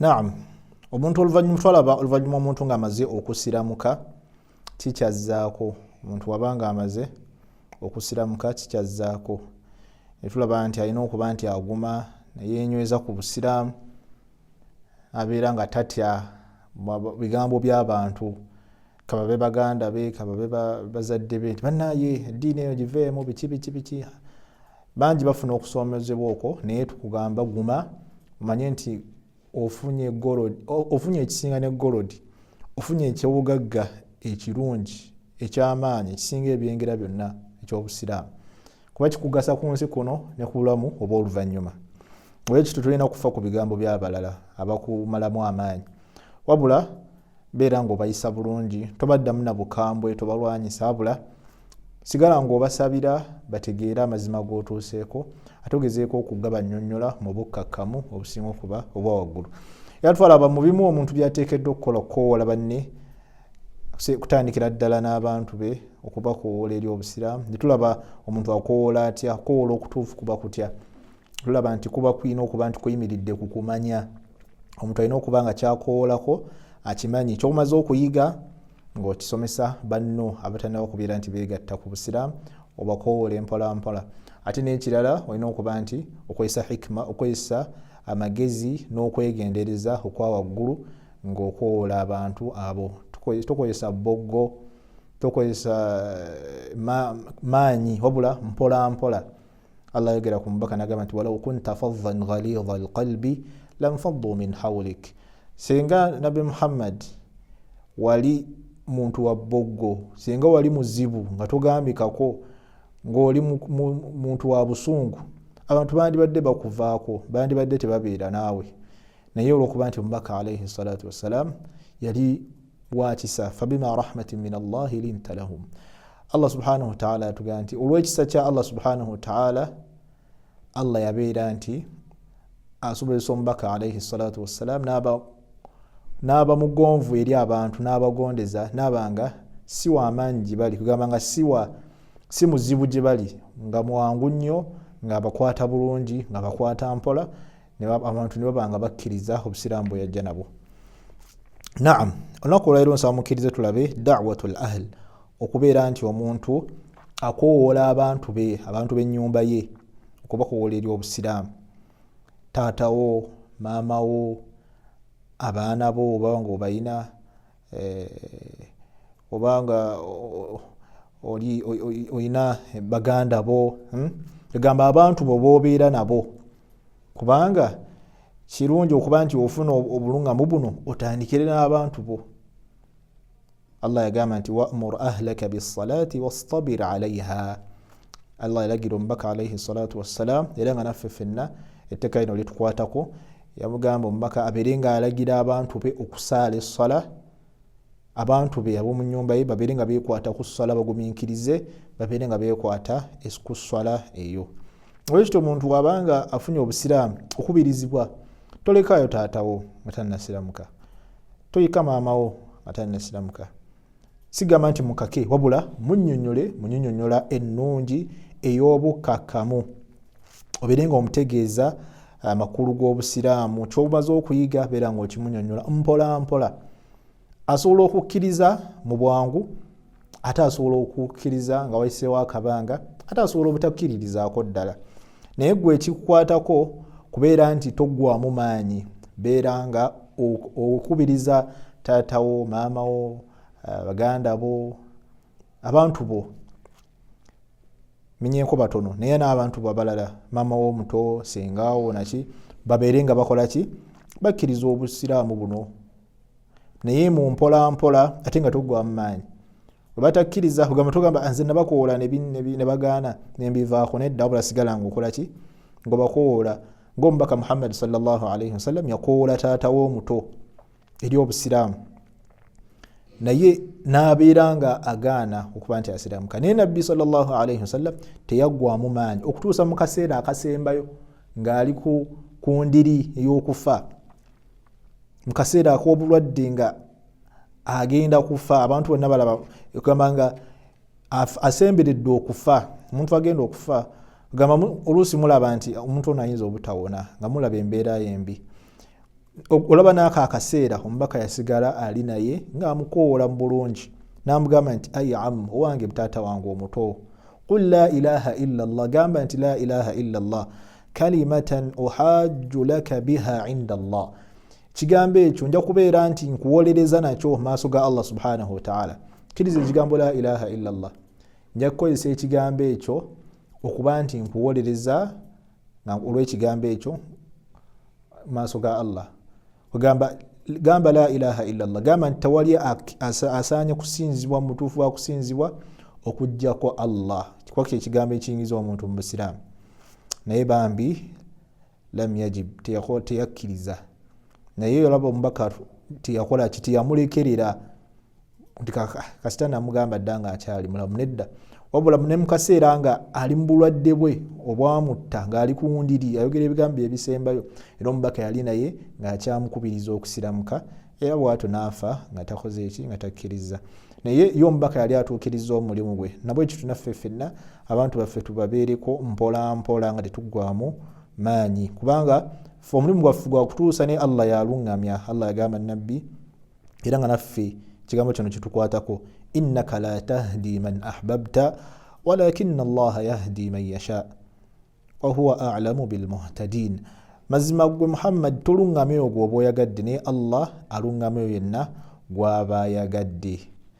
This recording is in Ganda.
naam omuntu oluvanyuma twalaba oluvanyuma omuntu ngaamaze okusiramuka kikyazzaako omuntu waba nga amaze okusiramuka kikyazzaako netulaba nti alina okuba nti aguma neyenyweza ku busiraamu abeera nga tatya bigambo byabantu kababe baganda be kababe bazadde be nti banaye eddiini eyo giveemu biki biki biki bangi bafuna okusomezebwa okwo naye tukugamba guma omanye nti ofunye ekisinga ne golodi ofunye ekyobugagga ekirungi ekyamaanyi ekisinga ebyengera byonna ekyobusiraamu kuba kikugasa ku nsi kuno ne ku bulamu oba oluvannyuma olwekityo tulina kufa ku bigambo by'abalala abakumalamu amaanyi wabula beera ng'obayisa bulungi tobaddamu na bukambwe tobalwanyisa abula sigala ng'obasabira bategeere amazima g'otuuseeko ate ogezeeko okugabannyonnyola mu bukkakkamu obusinga okuba obwa waggulu era twalaba mu bimu omuntu byateekeddwa okukola okukowoola banne kutandikira ddala n'abantu be okubakowoola eri obusiraamu netulaba omuntu akowoola atya okukowoola okutuufu kuba kutya tulaba nti kuba kulina okuba nti kuyimiridde ku kumanya omuntu alina okuba nga kyakowoolako akimanyi kyokumaze okuyiga ng'okisomesa banno abatanaba kubeera nti beegatta ku busiraamu obakowole mpolampola ate n'ekirala olina okuba nti okozesa hikima okozesa amagezi n'okwegendereza okwa waggulu ng'okowola abantu abo tokozesa boggo tokozesa eh, maanyi wabula mpolampola allah ayogera ku mubaka nagamba nti walau kunta faddan ghalidha alqalbi lanfaddu min haulik singa nabi muhammad wali muntu wa bboggo singa wali muzibu nga togambikako ngaoli muntu wa busungu abantu bandibadde bakuvaako bandibadde tebabeera naawe naye olwokuba nti omubaka alaihi salatu wassalam yali wakisa fabima rahmatin min allahi linta lahum allah subhanahu wataala yatugamba nti olwekisa kya allah subhanahu wataala allah yabeera nti asobozesa omubaka alaihi salatu wassalam naaba mugonvu eri abantu naabagondeza naabanga si wamaanyi gyebali kugamba nga siwa si muzibu gyebali nga mwangu nnyo ngaabakwata bulungi ngaabakwata mpola abantu ne baba nga bakkiriza obusiraamu bwe yajja nabwo naam olunaku olwaliro nsaba mukkirize tulabe dawatu l ahl okubeera nti omuntu akowoola abantu be abantu b'ennyumba ye okubakowoola eri obusiraamu taatawo maamawo abaana bo obaba nga obalina eh, obanga oli olina baganda bo hmm? egamba abantu bo bobeera nabo kubanga kirungi okuba nti ofuna obulungamu buno otandikire n'abantu bo allah yagamba nti wamur ahlaka bisalaati wastabir alaiha allah yalagira omubaka alaihi salatu wassalam era nga naffe fenna etteka lino litukwatako yamugamba omubaka abeere nga alagira abantu be okusaala essala abantu be ab'omu nyumba ye babeere nga bekwata ku ssala bagumiikirize babeere nga bekwata ku ssala eyo olwekityo omuntu wabanga afunye obusiraamu okubirizibwa tolekaayo taatawo nga tannasiramuka toyika maamawo nga tannasiramuka sigamba nti mukake wabula munyonyole munyonyonyola ennungi ey'obukakkamu obeere nga omutegeeza uh, amakulu g'obusiraamu kyobumaze okuyiga beera nga okimunyonyola mpola mpola asobola okukkiriza mu bwangu ate asobola okukkiriza nga wayiseewo akabanga ate asobola obutakkiririzaako ddala naye gwe ekikukwatako kubeera nti toggwamu maanyi beera nga okubiriza taata wo maama wo eh, baganda bo abantu bo menyenko batono naye n'abantu bo abalala maama wo omuto sengawo naki babeere nga bakola ki bakkiriza obusiraamu buno naye mu mpola mpola ate nga tuggwamu maanyi webatakkiriza kugamba tugamba ah, nze nabakoola nebagaana nembivaako nedda wabula sigala nga okola ki nga bakoola ngaomubaka muhammadi salllahalaihi wasallam yakoola taata womuto eri obusiraamu naye nabeera nga agaana okuba nti asiramuka naye nabbi salllahalaihi wasallam teyaggwamu maanyi okutuusa mu kaseera akasembayo ng'ali ku ndiri ey'okufa mu kaseera ak'obulwadde nga agenda kufa abantu bonna balaba egamba nga asemberedde okufa omuntu agenda okufa gamba oluusi mulaba nti omuntu ono ayinza obutawona nga mulaba embeera yembi olaba naako akaseera omubaka yasigala ali naye ngaamukowoola mu bulungi namugamba nti ai am owange mutaata wange omuto qul la ilaha illa llah gamba nti la ilaha illa llah kalimatan uhajju laka biha inda allah ekigambo ekyo nja kubeera nti nkuwolereza nakyo maaso ga allah subhanahu wataala kiriza ekigambo la ilaha illa llah nja kukozesa ekigambo ekyo okuba nti nkuwolereza olwekigambo ekyo maaso ga allah ogamba gamba la ilaha illallah gamba nti tewali asaanye kusinzibwa mutuufu wakusinzibwa okujjako allah kikuba kyekigambo ekiyingiza omuntu mu busiraamu naye bambi lam yajib teyakkiriza naye olaba omubaka teyakola ki teyamulekerera nti kasita namugamba dda nga akyali mulamu nedda wabula ne mu kaseera nga ali mu bulwadde bwe obwamutta ng'ali ku wundiri ayogera ebigambo ebisembayo era omubaka yali naye ng'akyamukubiriza okusiramuka era bwatyo n'afa nga takoze eki nga takkiriza naye ye omubaka yali atuukiriza omulimu gwe nabwe ekyo tunaffe ffenna abantu baffe tubabeereko mpolampola nga tetuggwamu maanyi kubanga fe omulimu gwaffe gwakutuusa naye allah yaluŋŋamya allah yagamba nabbi era nga naffe ekigambo kino kitukwatako innaka la tahdi man ahbabta walakina allaha yahdi man yasha wahuwa alamu bilmuhtadin mazima gwe muhammadi toluŋŋamya ogwo oba oyagadde naye allah aluŋŋamya oyo yenna gwaba ayagadde